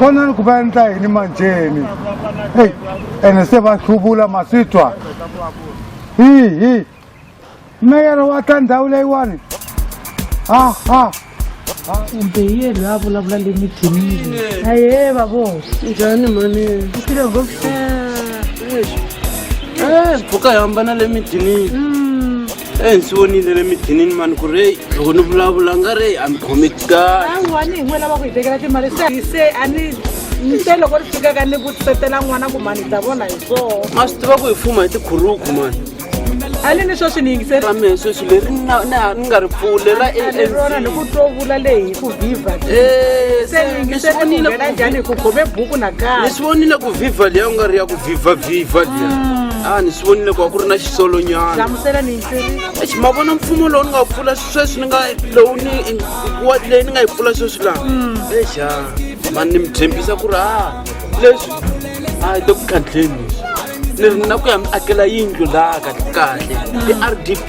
vonani ku va endla yini manjheni eyi ene se va hluvula ma swi twa hihi meyara wa ta ndhawu leyiwani aha kumbe hi yena loyi a vulavula le mithinini aye vavo njhani mani u file ngopfu mpfhuka hi hambana le midinini e ndzi vonile le midinini mani ku ri loko ni vulavula nga ri a mi khomi kahle awani hi n'we lava ku hi tekela timali se se a ni nte loko ri fikaka ni vutisetela n'wana ku mani ta vona hi swoo ma swi tiva ku hi fuma hi tikhuruku mani a ni ni sweswi ni yingiseri ra mehe sweswi leri ni na- ni ha- ni nga ri pfule ra ni rona ni ku two vula leyi hi ku viva Eh, se ni yingiseri ku nghena njhani hi ku khome buku ni nakambe swi vonile ku viva leya u nga ri ya ku viva viva leya a ni swi vonile ku va ku ri na xisolonyana hlamusela mintiri exi ma vona mfumo lowu ni nga wu pfula sweswi ni nga lowu ni wa- leyi ni nga yi pfula sweswi laha exa mani ni mi tshembisa ku ri a leswi a hi le ku khandleni leswi ni ri na ku ya mi akela yindlu laha kahle kahle i-r d p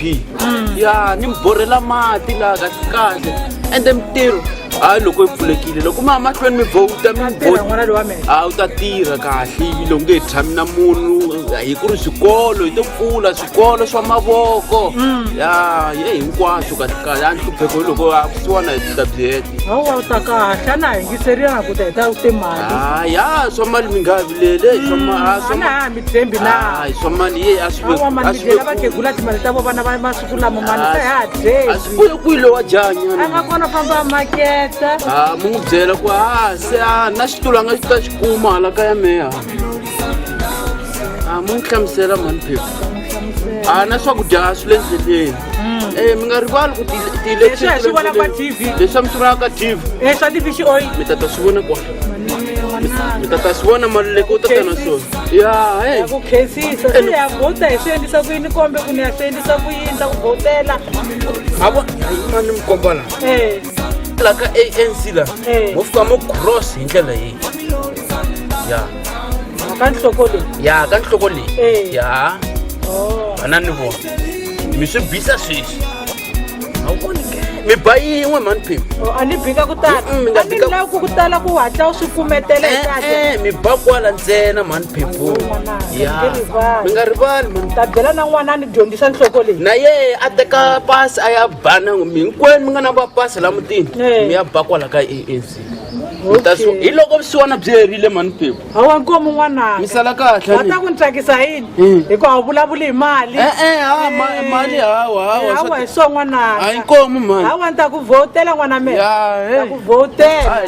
ya ni mi borhela mati laha kahle kahle ende mintirho hayi loko yi pfulekile loko mi ya mahlweni mi vhowuta mi mi tirha bo n'wana lowa mina a wu ta tirha kahle ivi loko nge tshami na munhu hi ku ri swikolo hi to pfula swikolo swa mavoko mm. ya ye hinkwaswo kahlekahle a ni hlupheko hi loko a kusiwana hi titablet awa u ta kahle a na ha yingiseliyana ku ta hi ta ku timali a ah, ya swa mali mi nga vilele mm, ah, ana ha mi tshembi na ah, swa mali ye a swiawamanidlela vakhegula timali ta vo vana va masiku lama mali se ha dyeyi a swi kuye kwilo wa janya a nga kona famba maketa a mu n'wi byela ku a se a na xitulu a nga xi ta xi kuma hala ka ya meya a mu ni hlamusela mhani phepha a na swakudya a swi le ndleleni um mi nga rivali ku Leswi hi swi vona ka TV. leswi a mi swi vona ka tv Eh, swa ti-fish oil. mi ta ta swi vona kwa mi ta ta swi vona maluleke u ta ta na swona ya he Ya ku khensisa se ya vhota hi swi endlisa ku yini kombe ku ni ya swi endlisa ku yini ta ku vhotela ha vo mani mi komba laha um la ka anc la Eh. mo fika mo cross hi ndlela leyi ya ka nhloko leyi ya ka nhloko leyi Eh. ya Oh. vana ni vona mi swi bisa sweswi a wu voni ke mi ba yin'we mhani phemu Oh, a ni bika ku tala Mm, mi nga a ni bika- lavi ku ku tala ku hatla u swi kumetela hi kahle e-e mi ba kwala ntsena mhani phemu Ayyo, manana, ya mi nge rivali. mi nga rivali mhani ta byela na n'wanani dyondzisa nhloko leyi na ye a teka pasi a ya bana mi hinkwenu mi nga na va pasi la mutini mi ya ba kwala ka ANC hi loko vusiwana byi herile mani pepu hawa nkomo n'wananga mi sala kahle wa ta ku ni tsakisa yini hmm. hikuva wu vulavuli hi mali eh, eh, hawa mali hawa hawa hawa hi swo n'wananga hayi nkomo mani hawa ni ta ku vhotela n'wana mina ta ku vhotela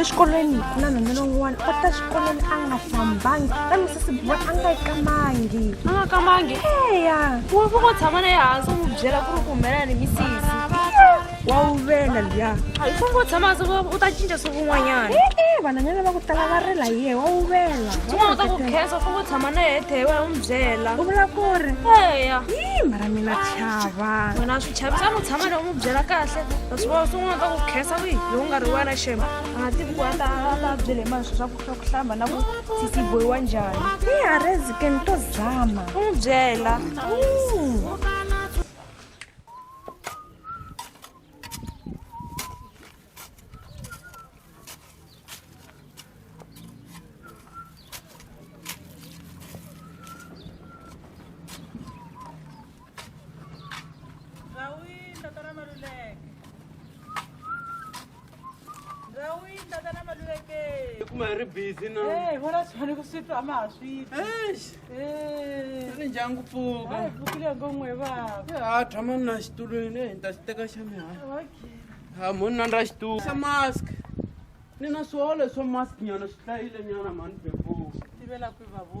exikolweni ku na nhwanyana un'wana u ta xikolweni a nga hlambangi kambe sesi boy a nga yi kamangi a nga kamangi eya ku va ko tshama na yehansi u n'wi byela ku ri ku humelela ni misisi wa wu vela liya a yi fanele u tshama se u ta cinca siku un'wanyana e-e vanhwanyana va ku tala va rila hi yehe wa wu vela un'wana u ta ku khensa u fanele u tshama na yehe thehe wena u n'wi byela u vula ku ri eya yi mara mina chava wena swi chavisa a n'wi tshama leyi u n'wi byela kahle kasi va swin'wana ka ku khensa wihi loko nga ri wena shema a nga tivi ku a ta a ta byele mani swi swa ku swa ku hlamba na ku sisi boyiwa njhani i harezi ke ni to zama u n'wi byela Ndrawini tatana Maluleke. Ndrawini tatana Maluleke. kuma hi ri busy na Eh, vona swani ku swi twa ma ha swi twi. Eish, Eh. ri ndyangu pfuka Hayi vukile ngo n'we baba. ha tshama na xitulwini ehi ni ta xi teka xa mihala Okay. ha monna ra xitulu xa mask ni na swihole swo mask nyana swi hlayile nyana mani beboo Tivela ku babo.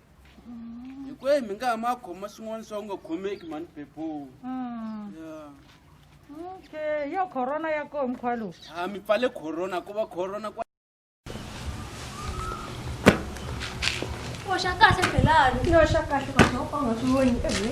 hi ku mi nga ha ma khoma swin'wana swa ku nga khomeki mani beboo Mm. ya Okay, yo corona ya koho mkhwa lowu. ha mi pfale corona ku va corona kwa Poxa kahle Belani. Yo xa kahle mama u nga swi voni ehe.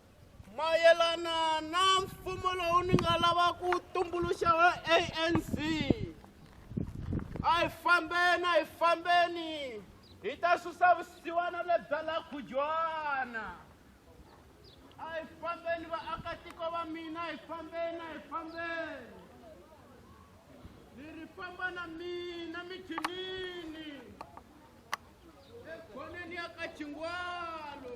mayelana na mfumo lowu ni nga lava ku tumbuluxa wa anc a hi fambeni a hi fambeni hi ta susa vusiwana lebya la khujwana a hi fambeni vaakatiko va mina hi fambeni a hi fambeni ni ri famba na mina mijinini ekhoneni ya ka chingwalo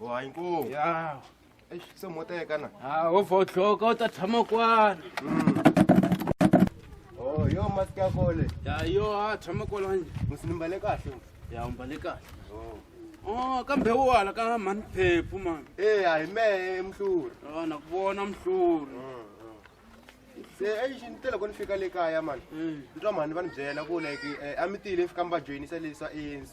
wa inkomu ya eish se moteka na ha o fo tlhoka o ta tshama kwana oh yo mask ya kole ya yo ha tshama kwana nje musinimbale kahle ya umbale kahle oh Oh, kambe wo hala ka mhani phephu mani e a hi mehe mhluri a na ku vona mhluri se eish ni te loko ni fika le kaya mani ni twa mhani va ni byela ku like eh, a mi tile fika mi va joyinisa leswa anc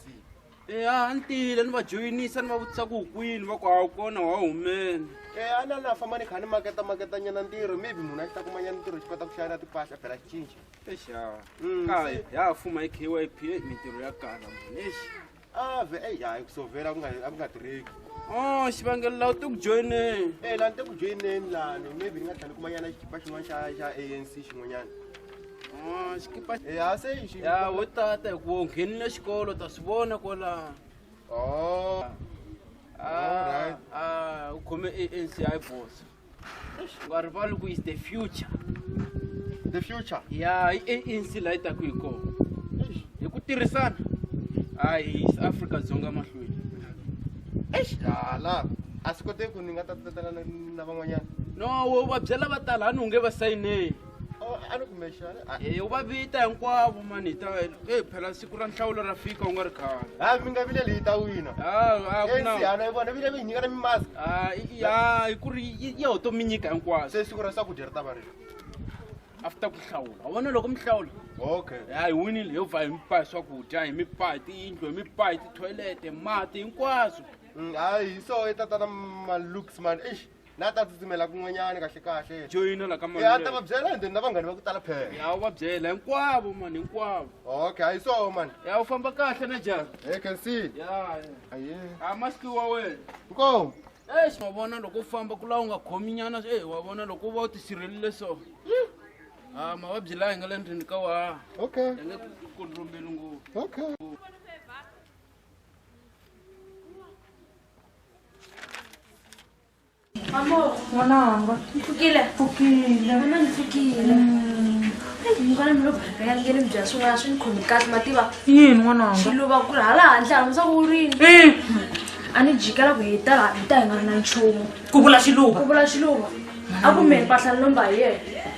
eya a ni tile ni va joyinisa ni va vutisa ku kwini va ku a wu kona wa humeni Eh, a na na famba ni kha ni maketa maketa nyana ntirho maybe munhu a xi ta kuma nyana ntirho xi kota ku xayela timpahla phela xi cinca exa Mm, kaye se- ya ha fuma hi kyp eyi, mintirho ya kala mani exi ave eyi hayi kusovela a ku nga- a ku nga tirheki o xivangelo lawu ti ku joyineni e lani te ku joyineni lani maybe ni nga tlhela ni kuma nyana xikipa xin'wana xa xa anc xin'wanyana xikipa ya se yi ya wo tata hi ku nghenile xikolo ta swi vona kwalaha oh ah ah u khome ANC hi boss u nga rivali ku is the future the future ya i ANC la yi ta ku hi kona hi ku tirhisana hayi South Africa dzonga mahlweni eish la a swi koteki ku ni nga ta tatela na van'wanyana no wo va byela va tala a ni unge va sayineni Oh, a ni kumexi a ni- a- Eh, u va vita hinkwavo mani hi ta eh, phela siku ra nhlawulo ra fika u nga ri khale ha mi nga vileli hi ta wina Ah, ah, ku na- ensiana yi vona vile mi hi nyika na mimask Ah, i- i- ah, hi ku ri yi- yi ho to mi nyika hinkwaswo se siku ra swakudya ri ta va rilo after ku hlawula u vona loko mi hlawula okay ya hi winile yo va hi mi paa hi swakudya hi mi paa hi tiyindlu hi mi paa hi tithoyilete mati hinkwaswo Mm, hayi hi so i tatana malooks man eish la ta tsutsumela kun'wanyana kahle kahle joyina la ka mali ya ta va byela and then na vanghani va ku tala phela ya u va byela hinkwavo mani hinkwavo okay hayi so mani ya u famba kahle na jara hey can see ya aye a maski wa wena nkomo eish wa vona loko u famba ku laha u nga khomi nyana e wa vona loko u va u tisirhelile so a mavabyi laha hi nga le ndlwini ka wa okay ya nge ku kondrombeli ngopfu okay Amor, mwanangu, mfukile. Mfukile. Mama mfukile. Mm. Ngwana mi lo bhaka ya ngene mi bya swin'wana swi ni khomi kahle ma tiva. Yini n'wananga? Swi lova ku ri hala handle hala musa ku rini. Eh. A ni jikela ku hi ta hi ta hi nga ri na nchumu. Ku vula xiluva. Ku vula xiluva. A ku me mpahla ni lomba hi yena.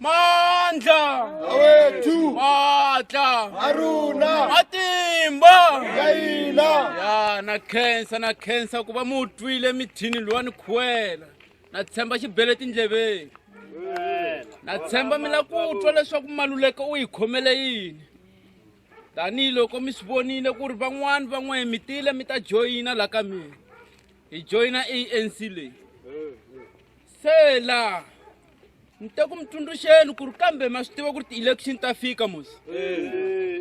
mandla awethu matla aruna matimba ya hina ya na khensa na khensa ku va mu twile mithini lowa ni khuwela na tshemba xibele tindleveni na tshemba mi la ku twa leswaku maluleka u yi khomele yini tanihiloko mi swi vonile ku ri van'wani van'wana mi tile mi ta joyina la ka mina hi joyina anc leyi sela ni te ku mi tsundzuxeni ku ri kambe ma swi tiva ku ri ti-election ta fika mos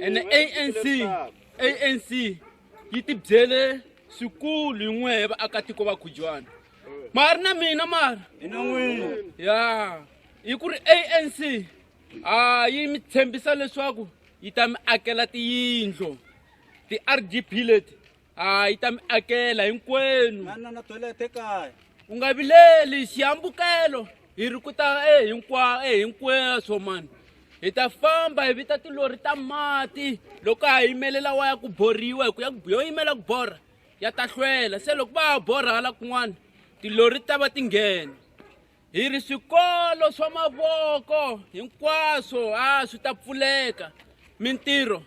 ene anc anc yi tibyele swikulu hi n'wehe vaakatiko va khujwana ma ri na mina mara ya hi ku ri anc a yi mi tshembisa leswaku yi ta mi akela tiyindlo ti-rdp leti a yi ta mi akela hinkwenu manana toilet ekaya u nga vileli xihambukelo hi ri ku ta e hinkwa e hinkweswo mani hi ta famba hi vita tilori ta mati loko a yimelela wa ya ku borhiwa hi ku ya yo yimela ku borha ya ta hlwela se loko va ha borha hala kun'wana tilori ti ta va ti nghena hi ri swikolo swa mavoko hinkwaswo a swi ta pfuleka mintirho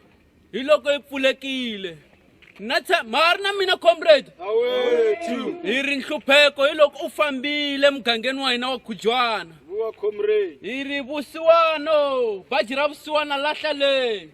hi loko yi pfulekile na ma ha ri na mina comrade hi ri nhlupheko hi loko u fambile emugangeni wa hina wa khujwana hi ri vusiwano baji ra vusiwana lahla leyi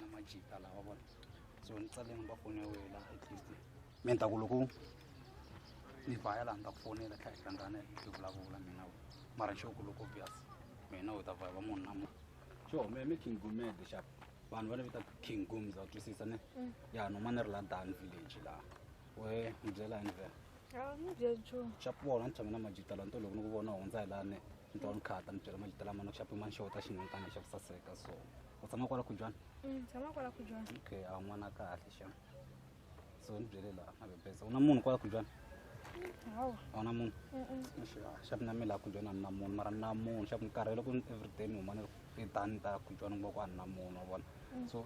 na majita lawa vona so ni tsale number phone ya wena at least mi ta ku loko ni vhaya laha ni ta ku fonela tlhela hi hlangana hi vulavula mina we mara xo ku loko obvious mina u ta vhaya va munhu na munhu xo me mi king gumede xap vanhu va ni vita king gums va twisisa ne mm. ya no ma ni ri la dan village laha we ni byela yini vhela xap vona ni tshame na majita laha nto loko ni ku vona hundza hi laha ne ni twa ni khata ni byela majita lama nikuxapi ma ni xeweta xinhonta ni xavi saseka so u tshama kwala khujwana mm, tshama kwala khujwana okay a n'wana kahle xa so ni byele laha mabebeza u na munhu kwala khujwana hawa a wu na munhu xavi na mi laha khujwana a ni na munhu mara ni na munhu xavi ni karhele ku everyday ni huma ni ri etani ta khujwana kuma ku a ni na munhu wa vona mm. so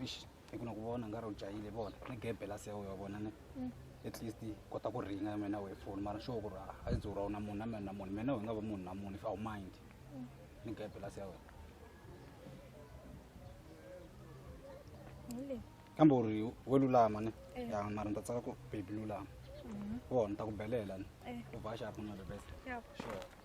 hi ku na ku vona nga ri u jahile vona ni gebe la sewe wa vona ni mm. at least kota ku ringa ya mina wehe foni mara sure ku ri a yi dzura u na munhu na mina na munhu mina hi nga va munhu na munhu if awu mind mm. ni gebe la sewe kambe u ri we lulama ni eh. ya mara ni ta tsaka ku baby lulama mm-hmm. vona ni ta ku belela ni eh. u va xapu na the best sure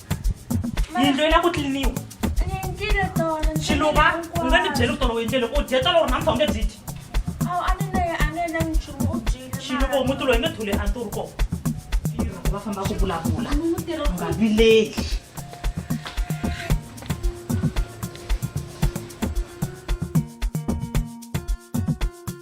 yindlo yi la ku tliliniwa xiluva u nga ni byeli ku tolo u yindlele u dye tolo ri namsa u nge byi dyi xiluva u muti loyi nge thule a nturi kona va famba ku vulavula nga vileli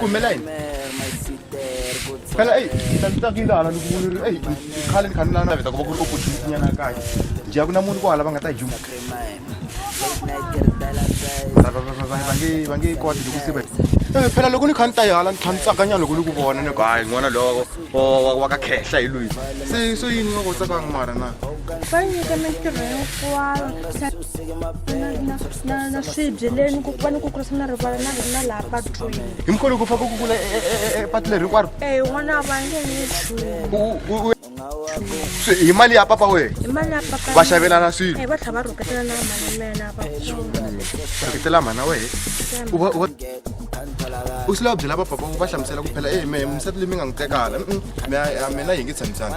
kumela yini phela eyi tatakindana ni kumuniri eyi khale ni kha ni lana naveta ku va ku ri opportunity nyana kahle nje a ku na munhu kwala va nga ta juma va nge koti loko se eh, phela loko ni kha ni ta yihala ni kha ni tsakanyana loko ni ku vona ni ku hayi n'wana lowo wa ka khehla hi lwini se so yini va kotsakanga mara na va nyika mintirho hinkwayo na swibye leni ku va ni ku kurisa na rivala na na laha patwini hi mkholo ku fa ku kukula epatu leri hinkwaro e n'wana va nge ni nchumu hi mali ya papa wehe hi mali ya papa va xavelana swilo va tlha va rhuketela na mali mena va rhuketela mhana wehe u va u va u swi lava byela vapapa va hlamusela ku phela e me misati leyi mi nga n'wi tekala mina yi nge tshamisana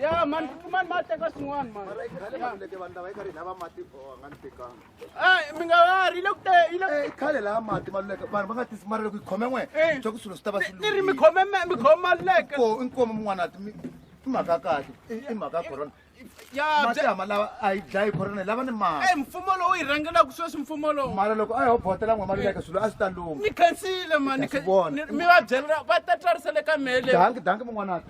Yeah, man, man, man, take us one, man. Ah, mi nga va ri le ku te yi le Eh, khale laha mati ma luleke vanhu va nga tisi mali loko yi khome n'we Eh. swa ku swilo swi ta va swi ti ri mi lungile. khome me- mi khome maluleke Ko- i nkomo mun'wana ti mi- i mhaka ya kahle i i mhaka ya corona ya mati bya- hama lawa a yi dlayi corona lava ni mali eh, mfumo lowu yi rhangelaka sweswi mfumo lowu mara loko a yo botela n'we mali leka swilo a swi ta luma ni khansile mani Hi ta swi vona. mi va byela va ta twarisele ka mele dangi dangi mun'wana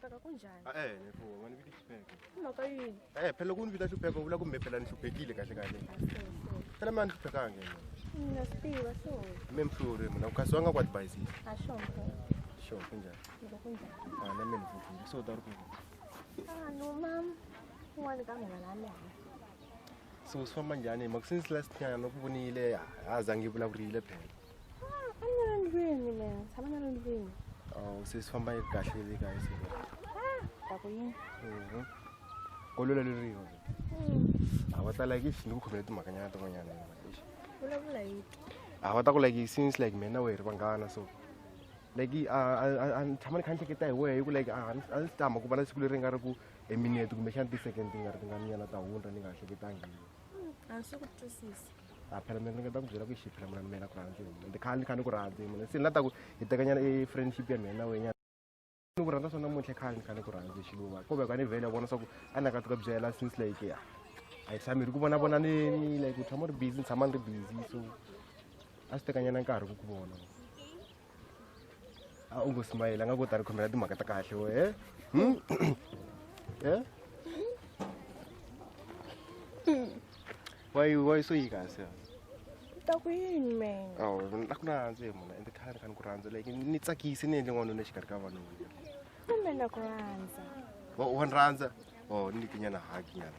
Peka kunjani? Ah, eh, nefo, wena vita xipeko. I mhaka yini? Eh, phela loko u ni vita xipeko, u vula ku mi phela ni hluphekile kahle kahle. Phela mi a ni hluphekanga yena. Na swi tiva so. Mi mi hluri, mina ku kasi wa nga ku advise. A xonto. Sure, kunjani? Loko kunjani? Ah, na mina hluphekile. So, ta ri ku. Ah, no mam. Un'wana ka mina la mina. So, swi famba njhani? Mhaka since last nyana no ku vonile, ha zangi vulavurile phela. sesifamba kahle le kae se tako yini ko lula le riho a va ta like if ni ku khomela timhakanyana tin'wanyana vulavula hi a va ta ku like since like mina we ri vanghana so like a ni tshama ni kha ni hleketa hi wehe hi ku like a ni tama ku va na siku leri nga ri ku eminete kumbexana ti-second ti nga ri ti nga nyana ta hundra ni nga hleketangi a ni swi ku twisisa a phela mina ni nga ta ku byela ku xi phela munani mina ku rhandzi mina ndi khale ni kha ni ku rhandzi mina se ni la ta ku hi tekanyana i friendship ya mina na wenyana ni ku rhandza swa namuntlha khale ni kha ni ku rhandzi xiluva kumbe ka ni vhele ya vona swa ku a ni nga ti ka byela since like ya a hi tshami ri ku vona vona ni like u tshama ri busy ni tshama ni ri busy so a swi tekanyana nkarhi ku ku vona a u ngo smayile a nga kota ri khomela timhaka ta kahle we e hmm? e why why so yi kasi ta ku yini man aw a ku na rhandzi hi muna ende khale kha ni ku rhandza like ni tsakise ni endle n'wanuna exikarhi ka vanhu kumbe na ku rhandza wa ni rhandza o oh, ni nyana haki nyana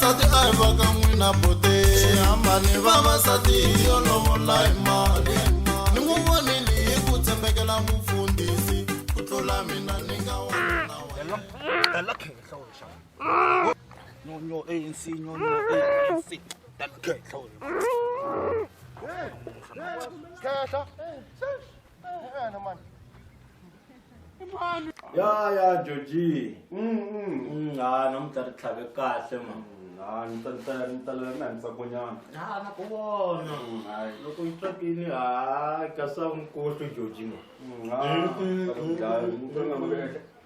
vavasati a hi va ka n'wina bote hambani vavasati hi yo lovola hi mali ni n'wi vonile hi ku tshembekela mufundhisi ku tlula mina ni nga wanyonyo anc nyonyo anc tanikhehla khehla ya ya joji Mm, ha namuntlha ri tlhave kahle ma ha ni ta ni ta ni ta lava na ni tsakonyana ha na ku vona loko yi tswakile ha kasi a wu ni kohli joji ma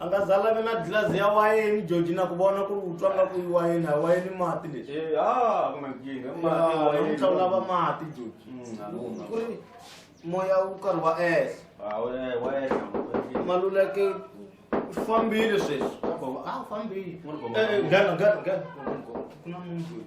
a nga za lavi na gilazi ya wayeni joji na ku vona ku ri u twa nga ku i wayeni a wayeni mati leswi Eh, ah, ku na nkingha. Mati, wayeni. namuntlha u lava mati joji Mm, a lungha. ku ri moya wu karhi wa ehla Ah, we- eh, wayeni, wayeni. maluleke u fambile sweswi a fambile N'wana bava. Eh, eh, nghena nghena nghena ku na munhu loyi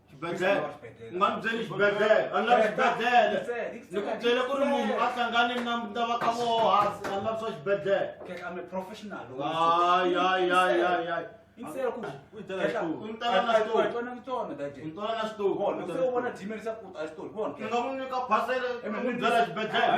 xibedhlele u nga ni byeli xibedhlele a ni lavi xibedhlele ni ku byele ku ri munhu a hlangane na na va ka voho hansi a ni lavi swa xibedhlele ayayayayay ngamunyika phasele byela xibedhlele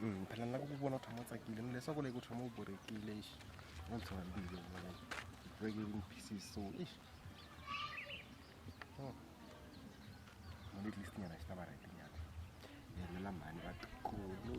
Mm, phela ni lava ku vona u tshama u tsakile ni leswaku leyi ku tshama u borekile ixi u ndzi tshama mbilu vona breaking in pieces so ixi oh. mali at least nyana xi ta va right nyana ni helela mhani va tikulu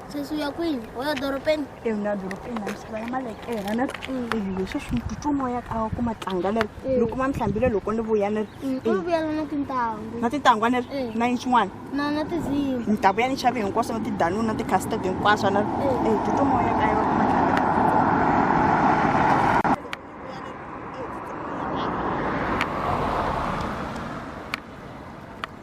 sesi u ya kwini u ya dorobeni e ni ya dorobeni na misava ya malekela ni ri mm. ivi leswi swi ni titwa moya ka ku ma tlanga ni ri mm. loko ma ni hlambile loko ni vuya ni ri ku mm, vuyela na tintangu na tintangu a ni ri na yini xin'wana na na tizimi ni ta vuya ni xave hinkwaswo na tidanuni na tikhasitede hinkwaswo ni ri e titwa moya ka yona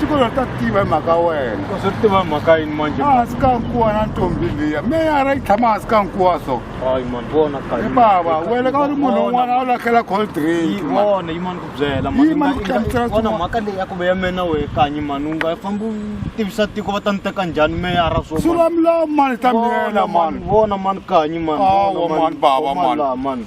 tikolota tiva hi mhaka wena swi tiva hi mhaka yini manje hansi ka nkuwa na ntombi liya meyara yi tshama hansi ka nkuwa so hayi mani vona hi bava wena ka u ri munhu un'wana a wu lahlela cold drink vona yi mani ku byela vona mhaka leyi ya ku ve ya mena wehe kanyi mani u nga fambi u tivisa tiko va ta ni teka njhani meyara so sula milawu mani ta miyela mani vona mani kanyi mani mani bava mani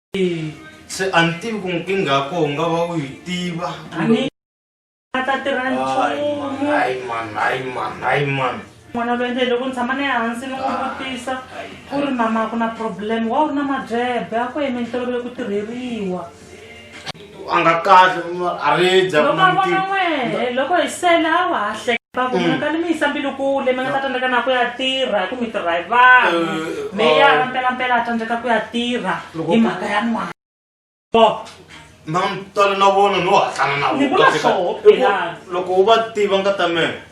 se a ni tivi ku nkingha ya koho nga va u yi tiva ta tirha nchumun'wana va endle loko ni tshama ni ehansi ni n'wi vutisa ku ri mama ku na problem wa u ri na mabyebe a ku yime ni tolovele ku tirheriwa a nga kahle a ridza loko a vona n'wehe loko hi sela a wa ha hleka ku munhu ka ni mi yisa mbilu kule mi nga ta tsandzeka na ku ya tirha ku mi tirha hi vanhu meyara mpelampela a tsandzeka ku ya tirha hi mhaka ya n'wana na mtala na vona no hatlana na vona loko u va tiva nga ta mina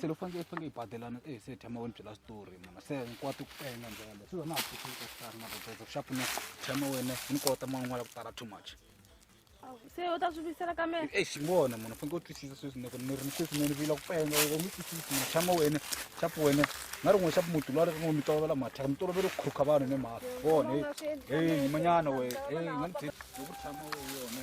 se loko fanekele faneke yi badelana e se thema wena byela switori muna se hinkwato ku penga ndlela leyi swi na ha hleketa ku hlaya na roteza ku xa pfuna thema wena ni kota man'wana ku tala too much se u ta swi vuyisela ka mina e xingona muna faneke u twisisa sweswi ni ku ni ri ni sweswi ni vila ku penga u nge twisisi muna thema wena xapu wena na rin'we xapu muti lwa ri rin'we mi tolovela mathaka mi tolovele ku khurukha vanhu ni mhaka vona e manyana wena e nga ni ku thama wena yona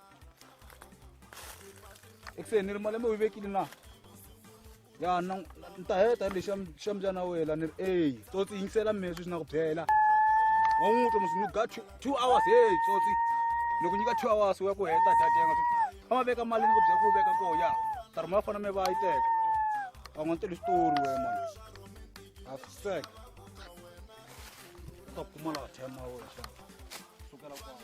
eku se ni ri malembe u yi vekile na ya na ni ta heta ri lexi xa mubyana wela ni ri eyi tsotsi yingisela mina sweswi na ku byela wa n'wi twa musi ni ga two hours heyi tsotsi ni ku nyika two hours wa ku heta datenga a ma veka mali ni ku byela ku veka koho ya ta ri ma fana mi va yi teka va n'wi tele xitori we man afsek ta pfumala thema we xa sukela kwala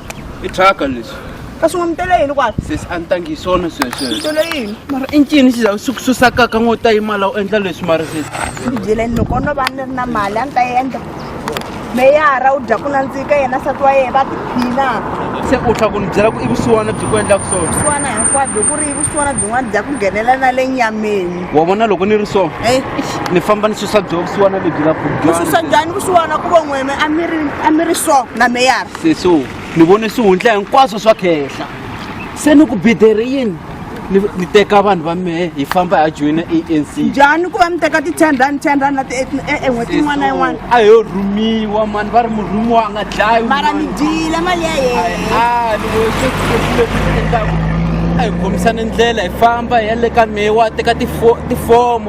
i thyaka leswi ka swi nga mi tele yini kwala sesi a ni tangi hi swona swesweswo tele yini mara i ncini xi za swi ku susakaka ngo ta yimala u endla leswi mara sesi ndzi byeleni loko no va ni ri na mali a ni ta endla meyara u dya ku nandzika yena sati wa yena va tiphina se u tlha ku ni byela ku i vusiwana byi ku endlaka swona vusiwana hinkwabyo ku ri i vusiwana byin'wana bya ku nghenela na le nyameni wa vona loko ni ri so ni famba ni susa byo vusiwana lebyi la vususa njhani vusiwana ku von'weme a mi ri so na meyara seso ni vone swihundla hinkwaswo swa khehla se ni ku bidere yini ni teka vanhu va mehe hi famba ha joyina a n c njhani ku va mi teka ti-ten rand ten rand na tien'hweti e, e, yin'wana na yin'wana a yo rhumiwa mani va ri murhumiwa a nga dlayi mara mi dyile mali ya yeneendlaku a hi khomisani ndlela hi famba hi ya le ka mehe wa teka tifomo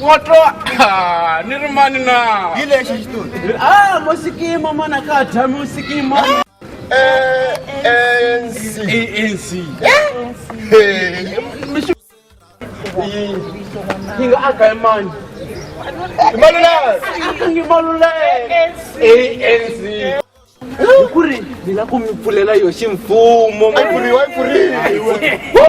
Woto ah, ni ri mani na hi lexi xitori Ah, musikimo mona ka dya musikimo. ANC ANC. Hi nga aka hi mani. Maluleka Aka ngi maluleke. ANC. Hi ku ri ni la ku mi pfulela yo ximfumo. Ai pfuriwa ai pfuriwa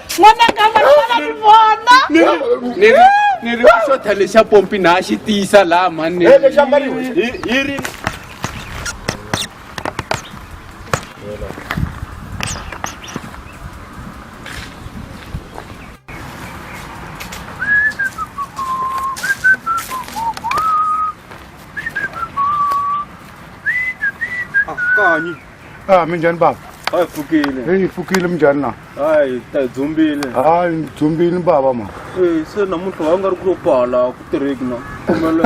n'wananga vanana ni vona ni ri xo tha lexa pompi na xi tiyisa laha mhani hi ri Ah, minjhani bava? A hi pfukile. Hey, hi pfukile minjhani na? Hayi, hi ta hi dzumbile. Hayi, ni dzumbile bava ma. Eh, se namuntlha wa nga ri ku lo pala ku tirheki na. Kumele.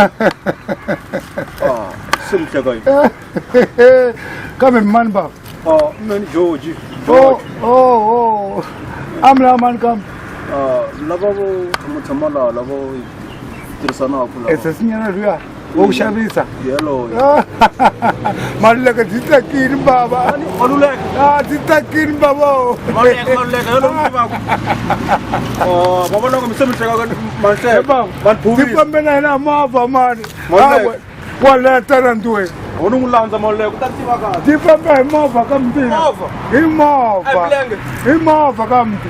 Ah, se mi hleka yini? Kambe mi mani bava? Ah, mina ni George. Oh, oh, oh. Ami la mani kambe. Ah, lava vo tshama tshama laha lava tirhisanaka laha. Esesinyana luya. wo ku xavisa maluleka byi tsakini bava a byi tsakini bavao ndzi na hina mava mani waletana nduwe u ni n'wi landza maluleka u ta tiva kahle ti famba hi movha ka mutini hi movha hi movha ka muti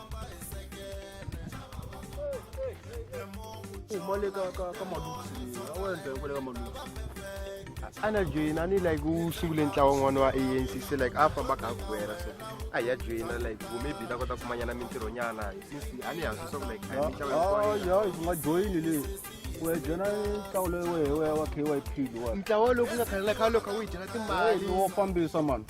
umole ka ka ka maluti awenze ukule ka maluti ana joina ni like usungule ntlawa n'wana wa anc se like a famba ka gwera so a hi ya joina like ku maybe ta kota ku manyana mintirhonyana since a ni hansi swaku like a hi mitlawa hinkwayo. ya hi nga joyini leyi u ya joyina ntlawa loyi wehe wa k y p lowa ntlawa lowu ku nga khale na khale loko a wu yi dyela timali wo fambisa mani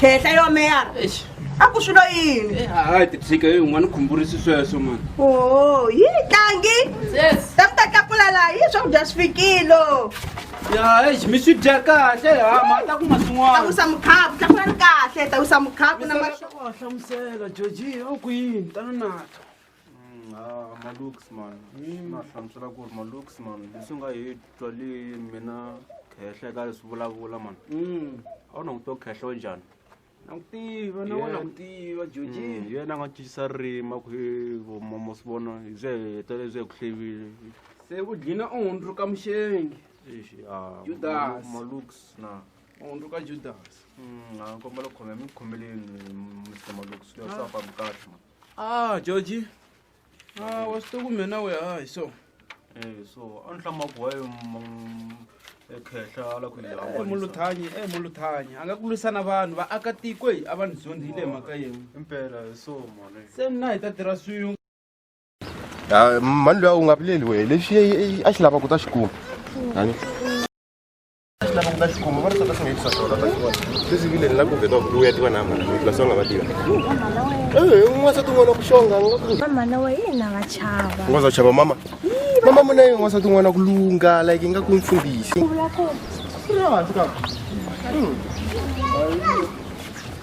khehla yo meyara Eish. a ku swilo yini Eh, hayi titshika yi un'wana u khumburisi sweswo mani o yi tlangi Yes. ta mi ta tlakula laha yi swakudya swi fikilo ya eish mi swi dya kahle ha ma ta kuma swin'wana tlakusa mukhapu tlakula ni kahle tlakusa mukhapu na ma hlamusela georgi a ku yini tana nato Mm, ah, malooks man mm. na hlamusela ku ri malooks man leswi nga hi twa le mina khehla ka leswi vulavula man mm. a wu languto khehlo njhani nakutiva na wona kutiva joji mm, yena a nga cincisa ririmi a ku hi vomomo swi vona hi bye heta lebyi hi ku hlevile se u dlina u hundzuka muxengi ah, judas malooks na mundu ka judas mm, a kombela khome mi khomeleni mr malux lesafambi kahle ah georgi ah, wa swi to kumbe na we hayi so eh, so a ni hlamaku waye ekhehla ala ku eh, muluthanyi e muluthanyi a nga ku lwisana vanhu vaakatiko hi a va ni zondzile mhaka yin'we impela hi so mone se mina hi ta tirha swin'we ah, mani loyi a wu nga vileli wehe lexi a xi lava ku ta xi kuma mama na wa yena va chava ungaza chava mama mama muna yi ungaza tin'wana ku lunga like yi nga ku mfundhisi u vula ku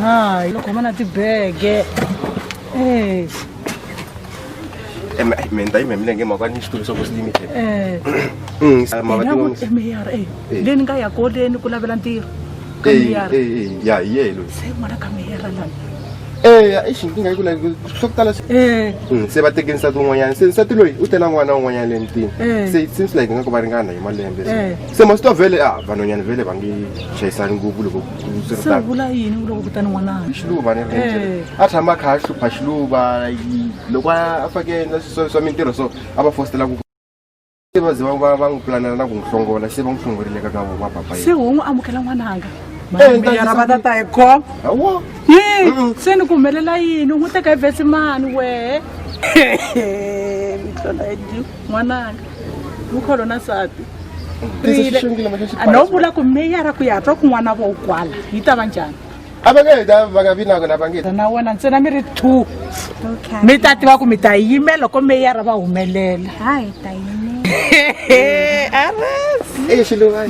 ha yi khoma na tibege eh Em, ai, me ndai me mlenge mwa kwani xitulu swa Voice Limited. eh Mm, sa ma Mina ku- eh, mayor eh Eh. le ni nga ya koleni ku lavela ntirho ka Eh, mayor eh, eh, ya yelo. se n'wana ka mayor lana Eh, ai xinkinga yiku la swo tala swi- eh Mm, se va teke nsati un'wanyana se nsati loyi u tela n'wana un'wanyana le mutini Eh. se it seems like nga ku va ringana hi malembe Eh. se masitovhele a vanhwanyana vhele va nge chayisani ngopfu loko Swi ri se u tano. vula yini u loko kutani n'wananga xiluva ni ri Eh. a tshama a kha a hlupha xiluva yi- loko a a fake endla swa swa mintirho so a va fositela ku se va ze va- va va n'wi pulanela na ku n'wi hlongola se va n'wi hlongorile ka ka va papa se yena u n'wi amukela n'wananga Eh, mara nitangisa va ku- tata hi khom hawa Mm-mm. se ni ku humelela yini u n'wi teka hi vesi mani wehe n'wananga vukholo na nsati no vula ku meyara ku ya twa kun'wana vo kwala yi ta va njhani a va nge ta va nga vi na kona va nge na wena ntsena mi ri two mi ta tiva ku mi ta yimela loko meyara va humelela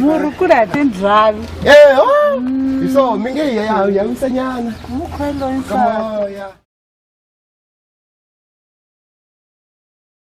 murhi ku ri ha tindlhavi hi swo mi nge yawisanyana mukhweloyi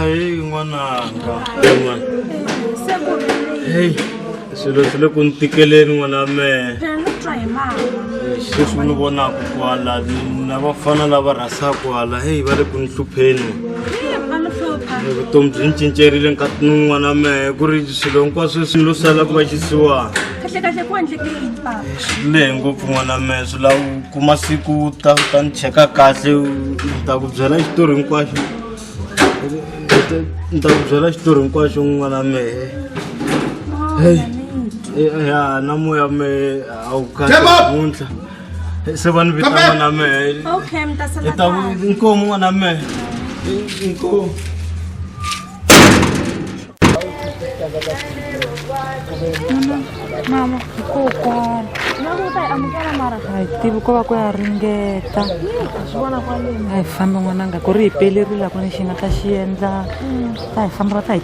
ayi n'wananga heyi swilo swi le ku ni tikeleni n'wana mehe sweswi ni vonaka kwala na vafana lava rhasaka kwala heyi va le ku ni hlupheni vutomi byi ni cincerile nkati ni n'wana mehe ku ri swilo hinkwaswo swi lo sala ku va xisiwana kahle kahle ku endleke yini papa swi lehe ngopfu n'wana me swi lava u kuma siku u ta u ta ni cheka kahle u ni ta ku byela xitori hinkwaxo ni ta ku byela xitori hinkwaxo n'wana mehe heyi ya na moya mehe a wu kahle Come up! namuntlha Eh, se va ni vita Come back! n'wana mehe okay mi ta sala ni ta ku kahle inkomu n'wana mehe inkomu mama kokwana loko u ta yi amukela mara a hi tivi ko va ku ya ringeta swi vona kwaleni a hi fambi n'wananga ku ri hi pelerile ku ni xi nga ta xi endla ta hi famba va ta hi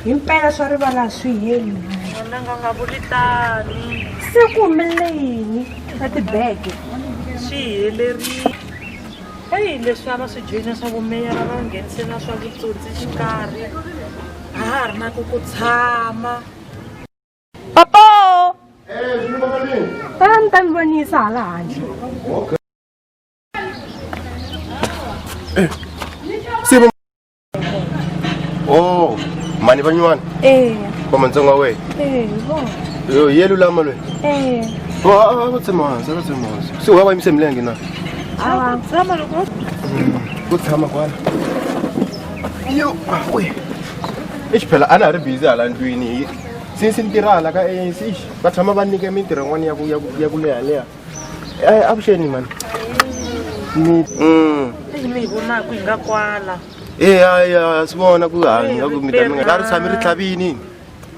himpela swa rivala a swi heli mhani Wena nga nga vuli tani. se ku humelele yini na tibege swi helerile eyi leswi a va swi joyina swa vumeyara va nghenise na swa vutsotsi xikarhi a ha ri na ku ku tshama papo va ni ta ni vonisa hala handle o mani va nyuwana ee va matsonga wehe ee vo Yo, ye lulama lweyi ee va tshema hansi va tshema hansi se wa va yimise milenge na awa tshama loko ku tshama kwala yo we exi phela a na ha ri bizi hala ndlwini since ni tirha hala ka anc va tshama va nyike mintirho yin'wana ya ku- ya ku- ya ku lehaleha Eh, avuxeni mani mi Mm. eyi mi hi vonaku hi nga kwala Eh, hayi ha swi vona ku hanya ku mi ta mi nga la ri tshami ri tlhavini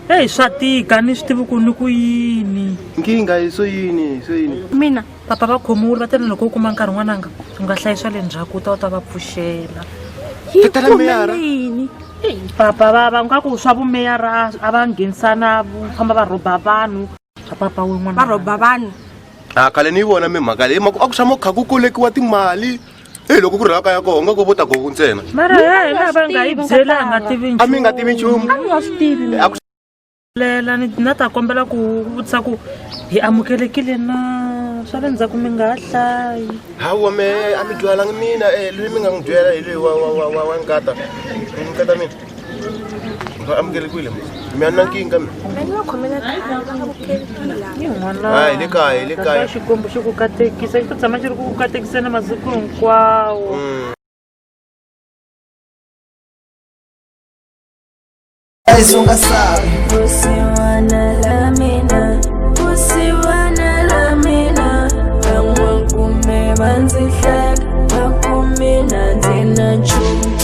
eyi swa tika ni swi tivi ku ni ku yini nkingha hi swo yini hi swo yini mina papa va khomiwile va tele loko u kuma nkarhi n'wananga u nga hlayisa le ndzhaku u ta u ta va pfuxela tatala meyara yini papa va va nga ku swa vumeyara a va nghenisana vu famba va rhoba vanhu papa wun'wana va rhoba vanhu a ah, khale ni yi vona mimhaka leyi maku a ku tshama ku kha ku kolekiwa timali eyi loko ku ri laka ya koho nga ko vo ta goku ntsena mara ya hina va nga yi byela a nga tivi a mi nga tivi nchumu a nga swi tivi lela ni na ta kombela ku vutisa ku hi amukelekile na swa le ndzhaku mi nga ha hlayi hawa me a mi dyalangi mina um eh, loyi mi nga n'wi byela hi loyi wa nkata nkata mina va amukele kwile mi ya nankinga mi hayi le kaya le kaya xikwembu xi ku katekisa xi ta tshama xi ri ku ku katekiseni masiku hinkwawo mm. Guys, unga sabe. Você wanna love me now. Você wanna love me now. Van'wa kume vandzi hleka, va kume na ndzi na nchumu.